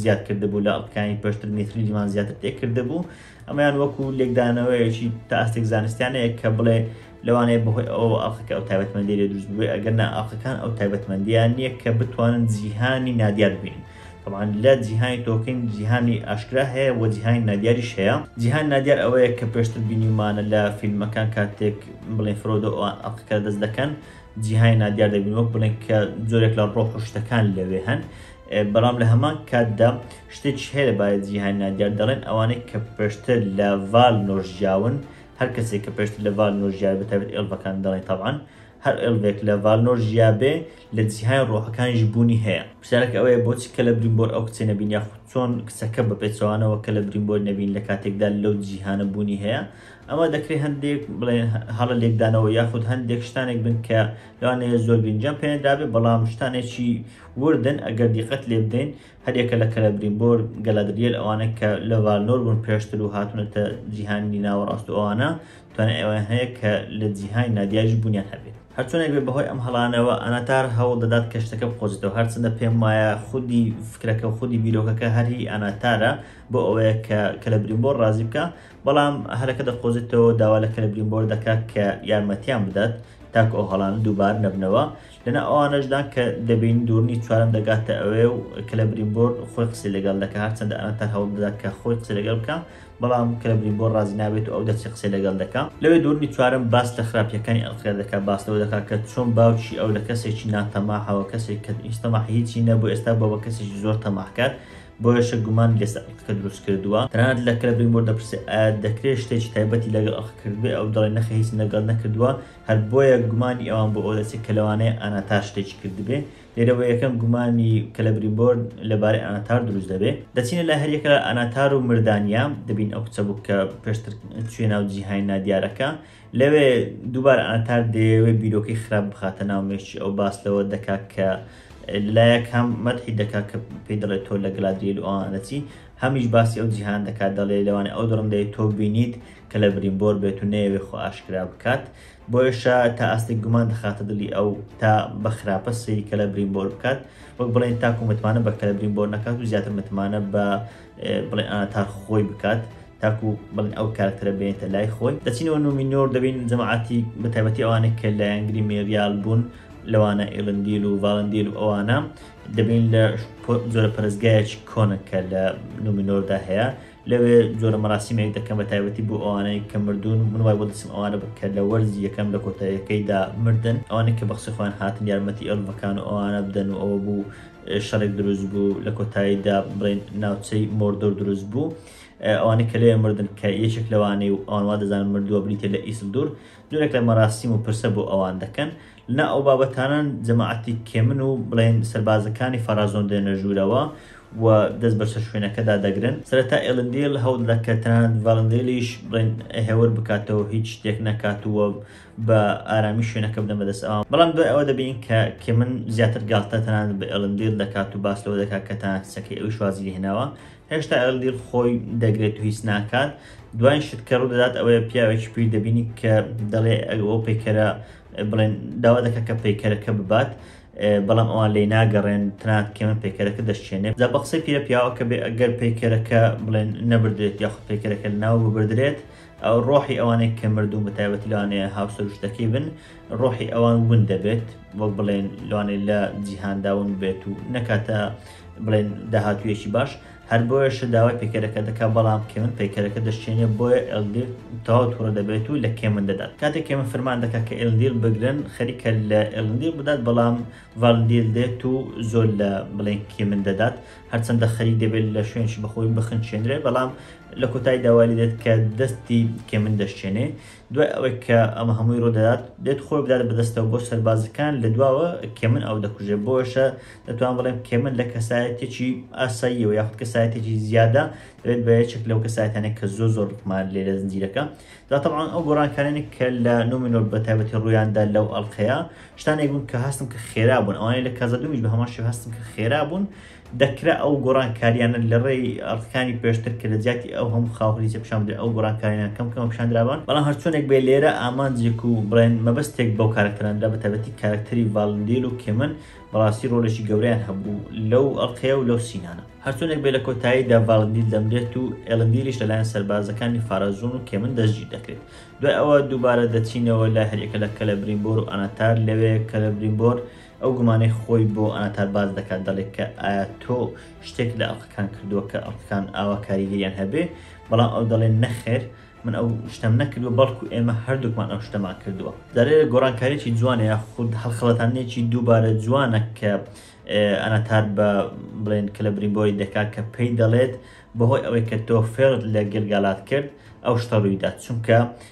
زیاد کردبوو لە ئەڵقەکانی پێشتر میثریلیمان زیاتر تێ کردبوو، ئەمەیان وەکو لێکدانەوەیەکی تا ئاستێک زانستیانەیە کە بڵێ لەوانەیە بەهۆی ئەوەوە ئەڵقەکە ئەو تایبەتمەندییە لێ دروست ببێ، ئەگەرنا ئەڵقەکان ئەو تایبەتمەندییەیان نییە کە بتوانن جیهانی نادیار ببینن. تەبعەن لە جیهانی تۆکین جیهانی ئاشکرا هەیە وە جیهانی نادیاریش هەیە جیهانی نادیار ئەوەیە کە پێشتر بینیومانە لە فیلمەکان کاتێک بڵێن فرۆدۆ ئەوان ئەڵقەکە دەست دەکەن جیهانی نادیار دەبین وەک بڵێن کە زۆرێک لە ڕۆح و شتەکان لەوێ هەن بەڵام لە هەمان کاتدا شتێک هەیە لەبارەت جیهانی نادیار دەڵێن ئەوانەی کە پێشتر لە ڤال نۆژیاون هەر کەسێک کە پێشتر لە ڤال نۆژیار بەتابێت ئێڵڤەکان دەڵێن تەبعەن هەر ئێلڤێک لە ڤالنۆر ژیابێ، لە جیهانی ڕۆحەکانیش بوونی هەیە. پرسیارەکە ئەوەیە بۆچی کەلەبریمبۆر ئەو کچەی نەبینی یاخود چۆن کچەکە بە پێچەوانەوە کەلەبریمبۆری نەبینی لە کاتێکدا لەو جیهانە بوونی هەیە؟ ئەمە دەکرێ هەندێک بڵێن هەڵە لێکدانەوە یاخود هەندێک شتانێک بن کە لەوانەیە زۆر گرنگیان پێنەدرابێ بەڵام شتانێکی وردن ئەگەر دیقەت لێبدەین هەریەکە لە کەلەبریمبۆر، گەلادریەل ئەوانە کە لە ڤالنۆر بوون پێشتر و هاتوونەتە جیهانی ناوەڕاست و ئەوانە توانای ئەوەیان هەیە کە لە جیهانی نادیاریش بوونیان هەبێت. هەرچۆنێک بێت بەهۆی ئەم هەڵانەوە ئاناتار هەوڵ دەدات کە شتەکە بقۆزێتەوە هەرچەندە پێم وایە خودی فکرەکە و خودی بیرۆکەکە هەر هی ئاناتارە بۆ ئەوەیە کە کەلەبریمبۆر ڕازی بکا بەڵام هەلەکە دەقۆزێتەوە و داوا لە کەلەبریمبۆر دەکا کە یارمەتیان بدات تاکو ئەو هەڵانە دووبار نەبنەوە لەناو ئەوانەشدان کە دەبینین دوورنی چوارەم دەگاتە ئەوێ و کلەبرین بۆر خۆی قسی لەگەڵ دەکە هەرچەندە ئەنە تا هەوڵ دەدات کە خۆی قسە لەگەڵ بکە بەڵام کلەبرین بۆر ڕازی نابێت و ئەو دەچی قسەی لەگەڵ دەکە لەوێ دوورنی چوارم باس لە خراپیەکانی ئەلقیا دەکە باس لەوە دەکات کە چۆن باوکی ئەو لە کەسێکی ناتەماحەوە کەسێک کە هیچ تەماحی هیچی نەبوو ئێستا بۆ بە کەسێکی زۆر تەماحکات بۆیەشە گومان لەسەر ئەلقەکە دروست کردووە تەنانەت لە کلەبرین بۆر دەپرسێ ئایا دەکرێت شتێکی تایبەتی لەگەڵ ئەلقەکردبێ ئەو دەڵێ نەخێر هیچم لەگەڵ نەکردووە هەر بۆیە گومانی ئەوان بۆ ئەوە دەچێت کە لەوانەیە ئاناتار شتێکی کردبێ، لێرەوە یەکەم گومانی کەلەبریمبۆر لەبارەی ئاناتار دروست دەبێ. دەچینە لای هەر یەکە لە ئاناتار و مردانیا، دەبین ئەو کچە بوو کە پێشتر چوویە ناو جیهانی نادیارەکە. لەوێ دووبارە ئاناتار دەیەوێ بیرۆکەی خراپ بخاتە ناو مێشکی ئەو، باس لەوە دەکا کە لەلایەک هەم مەدحی دەکا کە پێی دەڵێ تۆ لە گەلادریێل و ئەوان دەچی، هەمیش باسی ئەو جیهانە دەکا دەڵێ لەوانەیە ئەو دڕندەی تۆ بینیت، کە لە بریمبۆر بێت و نەیەوێ خۆ ئاشکرا بکات بۆیشە تا ئاستێک گومان دەخاتە دڵی ئەو تا بە خراپە سەیری کە لە بریمبۆر بکات وەک بڵێن تاکو متمانە بە کەلە بریمبۆر نەکات و زیاتر متمانە بە بڵێ ئاتار خۆی بکات تاکو بڵێن ئەو کارکتەرە بێنێتە لای خۆی دەچینەوە نومینۆر دەبین جەماعاتی بە تایبەتی ئەوانێک کە لایەنگری مێریال بوون لەوانە ئێلندیل و ڤالندیل و ئەوانە دەبین لە جۆرە پەرستگایەکی کۆنە کە لە نومینۆردا هەیە لەوێ جۆرە مەراسیمێک دەکەن بە تایبەتی بۆ ئەوانەی کە مردوون من وای بۆ دەچم ئەوانە بە کە لە وەرزی یەکەم لە کۆتایەکەیدا مردن ئەوانەی کە بەخسی خۆیان هاتن یارمەتی ئەلڤەکان و ئەوانە بدەن و ئەوە بوو شەڕێک دروست بوو لە کۆتاییدا بڵێن ناوچەی مۆردۆر دروست بوو ئەوانەی کە لێ مردن کە یەکێک لەوانەی و ئەوانوا دەزان مردووە بریتە لە ئیسل دوور جۆرێک لە مەراسیم و پرسە بۆ ئەوان دەکەن نا ئەو بابەتانە جەماعەتی کێمن و بڵێین سەربازەکانی فەرازۆن دێنە ژوورەوە و دەست بەسەر شوێنەکەدا دەگرن سەرەتا ئێلندیل هەوڵ دەدات کە تەنانەت ڤالندێلیش بڵێن هێور بکاتەوە هیچ شتێک نەکات و بە ئارامی شوێنەکە بدەن بەدەست ئەوان بەڵام دوای ئەوە دەبین کە کێمن زیاتر گاڵتە تەنانەت بە ئێلندیل دەکات و باس لەوە دەکات کە تەنانەت کچەکەی ئەویش وازی لێ هێناوە هێشتا ئێلندیل خۆی دەگرێت و هیچ ناکات دوای شت کە ڕوو دەدات ئەوەیە پیاوێکی پیر دەبینی کە دەڵێ ئەو پەیکەرە بڵێن داوا دەکە کە پەیکەرەکە ببات بەڵام ئەوان لی ناگەڕێن تنات کێمە پێکەرەکە دەشتێنێت زە بە قسەی پیرە پیاوە کە بێ ئەگەر پەیکەرەکە بڵێن نەبدرێت یاخ پەیکەرەکە ناو ببدرێت ئەو ڕۆحی ئەوانێک کە مردوو بە تایبەتی لەوانێ هاوسروشتەکەی بن ڕۆحی ئەوان ون دەبێت وەک بڵێن لەوانێ لە جیهانداون بێت و نەکاتە بڵێن داهاتویەکی باش هەر بۆیەشە داوای پەیکەرەکە دەکات بەڵام کێون پەیکەرەکە دەشکێنێ بۆیە ئێلدیر تەواو توڕە دەبێت و لە کێمن دەدات کاتێک کێمن فەرمان دەکات کە ئێلندیل بگرن خەریکە لە ئێلندیل بدات بەڵام ڤالندیل دێت و زۆر لە بڵێن کێمن دەدات هەرچەندە خەریک دەبێت لە شوێنشی بەخۆی بخنچێنرێت بەڵام لە کۆتای داوالی دێت کە دەستی کێمن دەشکێنێ دوای ئەوەی کە ئەمە هەمووی ڕوودەدات دێت خۆی بدات بەدەستەوە بۆ سەربازەکان لە دواوە کێمن ئەو دەکوژێت بۆشە دەتوان بڵێم کێمن لە کەسایەتێکی ئاساییەوە یاخود کەسایەتێکی زیادە دەبێت بە یەکێک لەو کەسایەتانێک کە زۆر زۆر ڕقمان لێ لە زنجیرەکە دا طبعا ئەو گۆڕانکارانی کە لە نومینۆر بە تایبەتی ڕوویاندا لەو ئەڵلقەیە شتانێک بوون کە هەستم کە خێرا بوون ئەوانەی لە کازە دومیش بە هەمان شێوە هەستم کە خێرا بوون دەکرا ئەو گۆڕانکارییانە لە ڕێی ئەرکانی پێشتر کە لە جیاتی ئەو هەموو خاو هەریزە پیشان بدرێن ئەو گۆڕانکارییانە کەم کەمە پیشان درابان بەڵام هەرچۆنێک بێ لێرە ئامانجێک و بڵێن مەبەستێک بەو کارەکتەران درا بە تایبەتی کارەکتەری ڤالندیل و کێمن بەڕاستی ڕۆلێکی گەورەیان هەبوو لەو ئەڵقەیە و لەو سینانە هەرچۆنێک بێ لە کۆتاییدا ڤالندیل دەمرێت و ئێلندیلیش لەلایەن سەربازەکانی فارازون و کێمن دەستگیر دەکرێت دوای ئەوە دووبارە دەچینەوە لای هەریەکە لە کەلەبریمبۆر و ئاناتار لەوێ کەلەبریمبۆر ئەو گومانەی خۆی بۆ ئاناتا باس دەکات دەڵێت کە ئایا تۆ شتێک لە ئەڵقەکان کردووە کە ئەڵقەکان ئاوا کاریگەریان هەبێ، بەڵام ئەو دەڵێت نەخێر من ئەو شتەم نەکردووە بەڵکو ئێمە هەردووکمان ئەو شتەمان کردووە. جا لێرە گۆڕانکارییەکی جوانە یاخود هەڵخەڵەتاندنێکی دووبارە جوانە کە ئاناتا بە بڵێن کلەبریمبۆری دەکات کە پێی دەڵێت بەهۆی ئەوەی کە تۆ فێڵت لە گلگالات کرد ئەو شتە ڕوویدا چونکە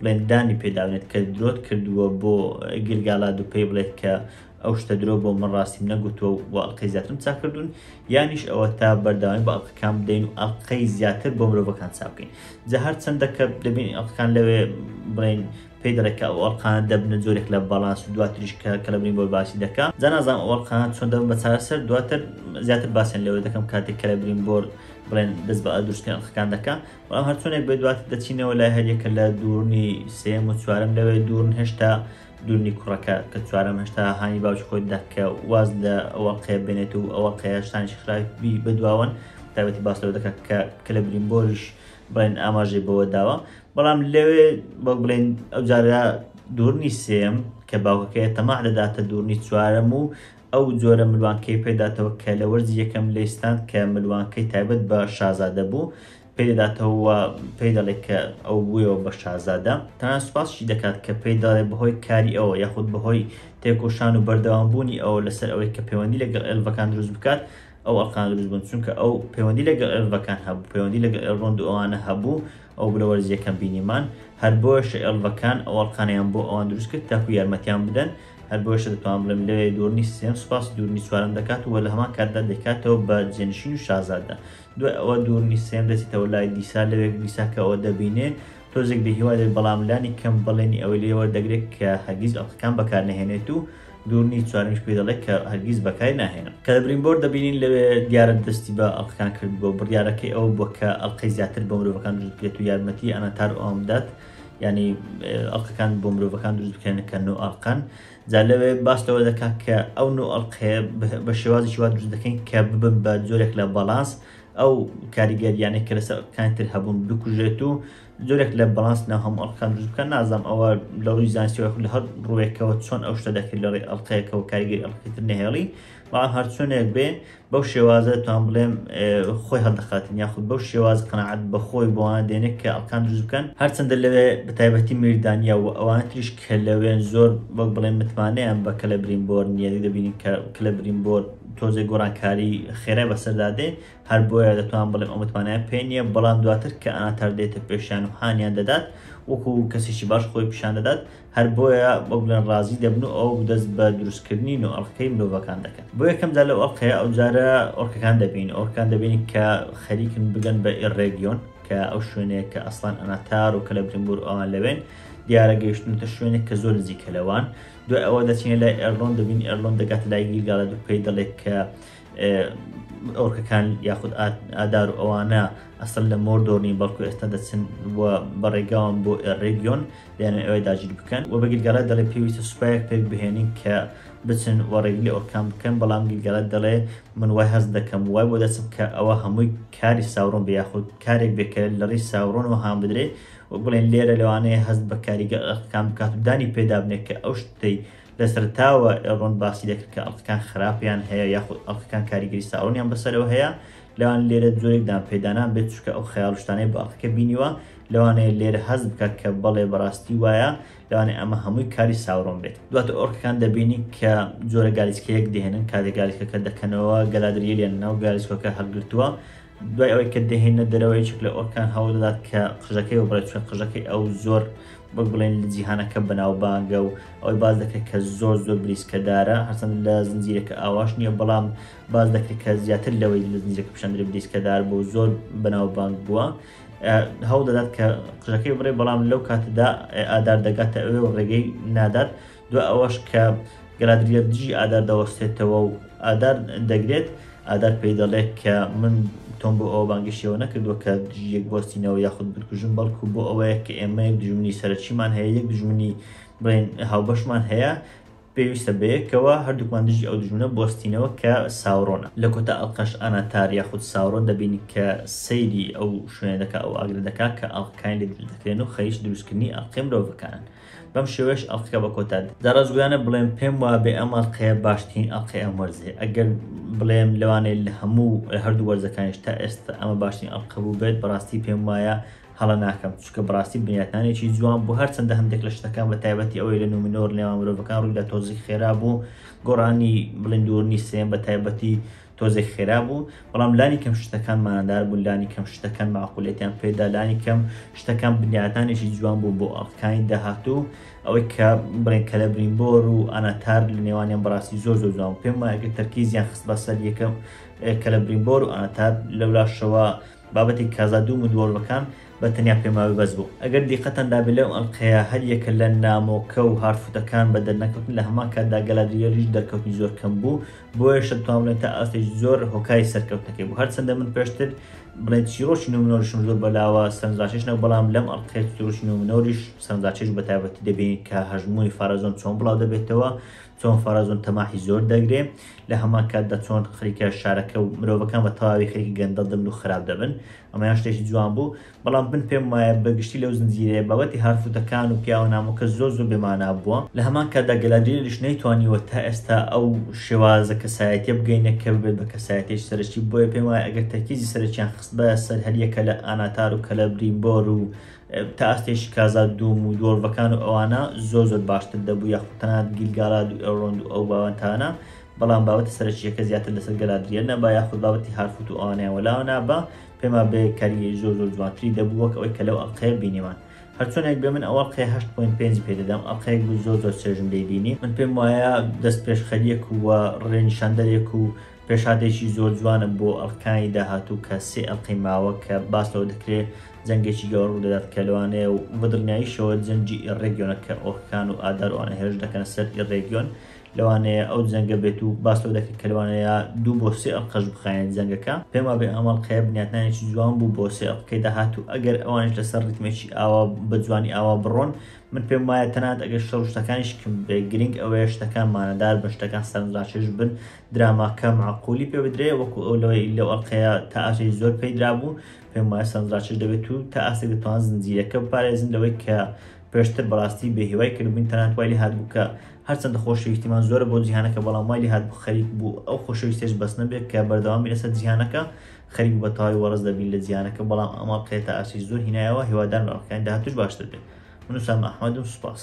بڵێت دانی پێداونێت کە درۆت کردووە بۆ گرگالاد و پێی بڵێت کە ئەو شتە درۆ بۆ من ڕاستیم نەگوتووە و بۆ ئەڵلقەی زیاترم چاکردوون یانیش ئەوە تا بەرداوای بە ئەڵلقەکان بدەین و ئەڵلقەی زیاتر بۆ مرۆڤەکان چاکەین جا هەر چەندە کە دەبین ئەڵلقەکان لەوێ بڵین پێی دەڵێت کە ئەو ئەڵلقانە دەبنە جۆرێک لە باڵانس و دواتریش کە کە لەبین بۆ باسی دەکە جا نازانم ئەو ئەڵلقانە چۆن دەبن بە چارەسەر دواتر زیاتر باسیان لەوێ دەکەم کاتێک کە لە برین بۆر بڵێن دەست بە ئەدروستکردن ئەڵلقەکان دەکە بەڵام هەرچۆنێک بێ دوات دەچینەوە لای هەریەکە لە دوورنی سێم و چوارم لەوێ دوورن هێشتا دوورنی کوڕەکە کە چوارم هێشتا هاانی باوش خۆی دەکە واز لە ئەوە قێ بێنێت و ئەوە قەیاشتانش خراپی بەدواون تابەتی باس لەوە دەکات کە کە لە برین بۆریش بڵێن ئاماژەی بەوە داوە بەڵام لەوێ بە بڵێن ئەو جارە دوورنی سێم کە باوکەکەی تەماع دەداتە دوورنی چوارەم و ئەو جۆرە ملوانکەی پێداتەوە کە لە وەرزی یەکەم لێی ستاند کە ملوانکەی تایبەت بە شازادە بوو پێی دەداتەوە و پێی دەڵێت کە ئەو بوویەوە بە شازادە تەنان سوپاسشی دەکات کە پێی دەڵێت بەهۆی کاری ئەوە یاخود بەهۆی تێکۆشان و بەردەوامبوونی ئەوە لەسەر ئەوەی کە پەیوەندی لەگەڵ ئێلڤەکان دروست بکات ئەو ئەڵقان دروست بوون چونکە ئەو پەیوەندی لەگەڵ ئێلڤەکان هەبوو پەیوەندی لەگەڵ ئێلڕۆند و ئەوانە هەبوو ئەو بلە وەرزیەکەم بینیمان هەر بۆیەشە ئێلڤەکان ئەو ئەڵقانیان بۆ ئەوان دروست کرد تاکو یارمەتیان بدەن هەر بۆیەشە دەتوانم بڵێم لەوێ دوور نیست سێم سوپاسی دوورنی چوارەم دەکات و لە هەمان کاتدا دەیکاتەوە بە جێنشین و شازادە دوای ئەوە دوورنی سێم دەچێتەوە لای دیسا لەوێک دیسا کە ئەوە دەبینێ تۆزێک بێهیوا دێت بەڵام لانی کەم بەڵێنی ئەوەی لێ وەردەگرێت کە هەرگیز ئەڵقەکان بەکار نەهێنێت و دوورنی چوارمیش پێ دەڵێت کە هەرگیز بەکاری ناهێنم کە لە برینبۆر دەبینین لەوێ دیارە دەستی بە ئەڵقەکان کرد بۆ بڕیارەکەی ئەوە بووە کە ئەڵقەی زیاتر بۆ مرۆڤەکان دروست بکرێت و یارمەتی ئەناتار ئەوان بدات ینی ئەڵلقەکان بۆ مرۆڤەکان دروست بکەێنە کە نۆ ئەڵلقەن جا لەوێ باس لەوە دەکات کە ئەو نۆ ئەڵلقەیە بە شێوازی شووا دروست دەکەین کە ببن بە جۆرێک لە باڵانس ئەو کاریگەریانە کە لەسەر کانتر هەبوون بکوژێت و جۆرێک لە باڵانس ناو هەم ئەڵلقەکان دروست بکەن نازانم ئەوە لە ڕووی زانسیەوە لە هەر ڕووێکەوە چۆن ئەو شتە دەکرد لە ڕێ ئەڵلقەیەکەوە کاریگەری ئەڵلقەتر نهێڵی بەڵام هەرچۆنێک بێ بەو شێوازە توان بڵێم خۆی هەڵدەخاتن یاخود بەو شێواز قەنەعەت بەخۆی بۆوانە دێنێک کە ئەڵکان دروست بکەن هەرچەندە لەوێ بە تایبەتی میردانیا و ئەوانە تریش کە لەوێن زۆر وەک بڵێن متمانەیان بە کەلە برینبۆر نییە دەبینین کە کەلە برینبۆر تۆزێک گۆڕانکاری خێرای بەسەردا دێ هەر بۆیە دەتوان بڵێم ئەو متمانیان پێ نییە بەڵام دواتر کە ئاتار دێتە پێشیان و هانیان دەدات وەکو کەسێکی باش خۆی پیشان دەدات هەر بۆیە بەگوڵێن ڕازی دەبن و ئەو دەست بە دروستکردنی نو ئەڵقەی مرۆڤەکان دەکەن بۆ یەکەمدا لەو ئەڵقەیە ئەوجارە ئۆرکەکان دەبین ئۆرکان دەبین کە خەریکن بگەن بە ئێڕێگیۆن کە ئەو شوێنەیە کە ئەسلان ئەناتار و کە لە برمبور ئەوان لەوێن دیارە گەیشتنتە شوێنێک کە زۆر نزیکە لەوان دوای ئەوە دەچینە لای ئەرلۆن دەبین ئەرلۆن دەگات لای گیرگاڵە دوو پێی دەڵێت کە ئەورکەکان یاخود ئادار و ئەوانە ئەسل لە مۆر دۆرنی بەڵکو ئێستا دەچن بەڕێگاوان بۆ ڕێگیۆن دەیان ئەوێ داگیر بکەن و بە گیرگەڵێ دەڵێ پێویستە سوپایەک پێک بهێنین کە بچن و ڕێگلی ئۆرکان بکەن بەڵام گیرگەڵێت دەڵێ من وای هەست دەکەم وای بۆ دەچم کە ئەوە هەمووی کاری ساورۆن بە یاخود کارێک بێکە لە ڕی ساورۆن و هاان بدرێ و بڵێن لێرە لەوانەیە هەست بە کاریگەکان بکات و دانی پێدابنێت کە ئەو شتەی لەسەرەتاوە ئێڵرۆن باسی دەکرد کە ئەڵقەکان خراپیان هەیە یاخود ئەڵقەکان کاریگەری ساڕۆنیان بەسەرەوە هەیە لەوان لێرە جۆرێک دانپێدانان بێت چکە ئەو خەیاڵشتانەی بە ئەڵقەکە بینیوە لەوانەیە لێرە هەز بکات کە بەڵێ بەڕاستی وایە لەوانێ ئەمە هەمووی کاری ساڕۆن بێت دواتە ئۆرکەکان دەبینی کە جۆرە گالیسکەیەک دێنن کاتێک گالیسکەکە دەکەنەوە گەلادریلیان ناو گالیسکۆکە هەڵگرتووە دوای ئەوەی کە دەهێنە دەرەوە یەکێک لە ئۆرکان هەوڵ دەدات کە قژەکەی وبڕێت چون قژەکەی ئەو زۆر وەک بڵێن لە جیهانەکە بەناوبانگە و ئەوەی باز دەکرێت کە زۆر زۆر بریسکەدارە هەرچەند لە زنجیرەکە ئاواش نییە بەڵام باز دەکرێت کە زیاتر لەوەی لە زنجیرەکە پیشاندرێت بریسکەدار بۆ زۆر بەناوبانگ بووە هەوڵ دەدات کە قژەکەی بڕێ بەڵام لەو کاتەدا ئادار دەگاتە ئەوێ و ڕێگەی نادات دوا ئەوەش کە گەلادریەر دژی ئادار دەوەستێتەوە و ئادار دەگرێت، ئادار پێی دەڵێت کە من تۆم بۆ ئەوە بانگەشیەوە نەکردووە کە دژی یەک بوەستینەوە یاخود بتکوژم بەڵکو بۆ ئەوەیە کە ئێمە یەک دژمنی سەرەکیمان هەیە یەک دژمنی بڵێن هاوبەشمان هەیە پێویستە بەیەکەوە هەردووکمان دژی ئەو دژمنە بوەستینەوە کە ساورۆنە لە کۆتا ئەڵقەش ئاناتار یاخود ساورۆن دەبین کە سەیری ئەو شوێنە دەکا ئەو ئاگرە دەکا کە ئەڵقەکانی لێ دروست دەکرێن و خەریکی دروستکردنی ئەڵقەی مرۆڤەکانن. بەم شێوەیەش ئەڵقەکە بە کۆتا دێت جا ڕاستگۆیانە بڵێم پێم وابێ ئەم ئەڵقەیە باشترین ئەڵقەی ئەم وەرزێ ئەگەر بڵێم لەوانەیە لە هەموو لە هەردوو وەرزەکانیش تا ئێستا ئەمە باشترین ئەڵقە بوو بێت بەڕاستی پێم وایە هەڵە ناکەم چونکە بڕاستی بنیاتانێکی جوان بۆ هەرچەندە هەندێک لە شتەکان بە تایبەتی ئەوەی لە نومنۆر نێوان مرۆڤەکان ڕوویدا تۆزیک خێرا بوو گۆڕانی بڵندورنی سێن بە تایبەتی تۆزێک خێرا بوو بەڵام لانی کەم شتەکان مانادار بوون لانی کەم شتەکان معقولێتیان پێدا لانی کەم شتەکان بنیاتانێکی جوان بوو بۆ ئەڵقەکانی داهاتوو ئەوەی کە بڵێن کە لە برینبۆر و ئاناتار لە نێوانیان بەڕاستی زۆر زۆر جوان پێم وایەکە تەرکیزیان خست بەسەر یەکەم کە لە برینبۆر و ئاناتار لەولاشەوە بابەتی کازا دوو مدوەڵەکان بە تەنیا پێماوی بەس بوو. ئەگەر دیقەتتان دابێت لەو ئەڵقەیە هەر یەکە لە نامۆکە و هارفوتەکان بە دەرنەکەوتن لە هەمان کاتدا گەلادریێلیش دەرکەوتنی زۆر کەم بوو بۆیەش دەتوان بڵێن تا ئاستێکی زۆر هۆکاری سەرکەوتنەکەی بوو هەرچەندە من پێشتر بڵێن چیرۆکی نومنۆرشم زۆر بەلاوە سەرنجڕاکێش نەبوو بەڵام لەم ئەڵقەیە چیرۆکی نومنۆریش سەرنجڕاکێش بە تایبەتی دەبینین کە هەژموونی فارازۆن چۆن بڵاو دەبێتەوە چۆن فارازۆن تەماحی زۆر دەگرێ لە هەمان کاتدا چۆن خەریکە شارەکە و مرۆڤەکان بە تەواوی خەریکی گەندەڵ دەبن و خراپ دەبن ئەمەیان شتێکی جوان بوو بەڵام من پێم وایە بە گشتی لەو زنجیرەیە بابەتی هارفوتەکان و پیاوە نامۆکە زۆر زۆر بێ مانا بووە لە هەمان کاتدا گەلادریێلیش نەیتوانیوە تا ئێستا ئەو شێوازە کەسایەتیە بگەینێ کە ببێت بە کەسایەتیەکی سەرەکی بۆیە پێم وایە ئەگەر تەرکیزی سەرەکیان خستبایە سەر هەر یەکە لە ئاناتار و کەلەبریمبۆر و تا ئاستێکی کازا دووم و دۆرڤەکان و ئەوانە زۆر زۆر باشتر دەبوو یاخود تەنانەت گیلگالاد و ئێڵرۆند و ئەو باوەنتانە بەڵام بابەتە سەرەکییەکە زیاتر لەسەر گەلادرییە نەبا یاخود بابەتی هارفوت و ئەوانەیان وەلاوە نابا، پێمان بێ کاریگەری زۆر زۆر جوانتری دەبوو وەک ئەوەی کە لەو ئەڵقەیە بینیمان. هەرچۆنێک بێ من ئەو ئەڵقەیە هەشت پۆینت پێنجی پێ دەدەم، ئەڵقەیەک بوو زۆر زۆر چێژم لێی بینی، من پێم وایە دەست پێشخەرییەک و ڕێ نیشاندەرێک و پێشهاتێکی زۆر جوانە بۆ ئەڵقەکانی داهاتوو کە سێ ئەڵقەی ماوە کە باس لەوە دەکرێ جەنگێکی گەورە ڕوو دەدات کە لەوانەیە و بە دڵنیاییشەوە جەنگی ئیڕێگیۆنە کە ئۆرکەکان و ئادار و ئەوانە هێرش دەکەنە سەر ئیڕێگیۆن لەوانەیە ئەو جەنگە بێت و باس لەوە دەکرێت کە لەوانەیە دوو بۆ سێ ئەڵقەش بخایەن جەنگەکە، پێم وابێ ئەم ئەڵقەیە بنیاتنانێکی جوان بوو بۆ سێ ئەڵقەی داهات و ئەگەر ئەوانیش لەسەر ڕیتمێکی ئاوا بە جوانی ئاوا بڕۆن من پێم وایە تەنانەت ئەگەر شەڕ و شتەکانیش کم بێ گرنگ ئەوەیە شتەکان مانادار بن شتەکان سەرنجڕاکێش بن دراماکە مەعقولی پێ بدرێ وەکو ئەو لەوەی لەو ئەڵقەیە تا ئاستێکی زۆر پێی درابوو پێم وایە سەرنجڕاکێش دەبێت و تا ئاستێک دەتوان زنجیرەکە بپارێزن لەوەی کە پێشتر بەڕاستی بێ هیوای کردبووین تەنانەت وای لێهاتبوو کە هەرچەندە خۆشەویستیمان زۆرە بۆ جیهانەکە بەڵام وای لێهاتبوو خەریک بوو ئەو خۆشەویستیش بەس نەبێت کە بەردەوامی لەسەر جیهانەکە خەریک بە تەواوی وەڕز دەبین لە جیهانەکە بەڵام ئەم ئەڵقەیە تا ئاسی زۆر هینایەوە هیوادارم ئەڵقەکانی داهاتوش باشتر بێت من وسام ئەحمەدم سوپاس.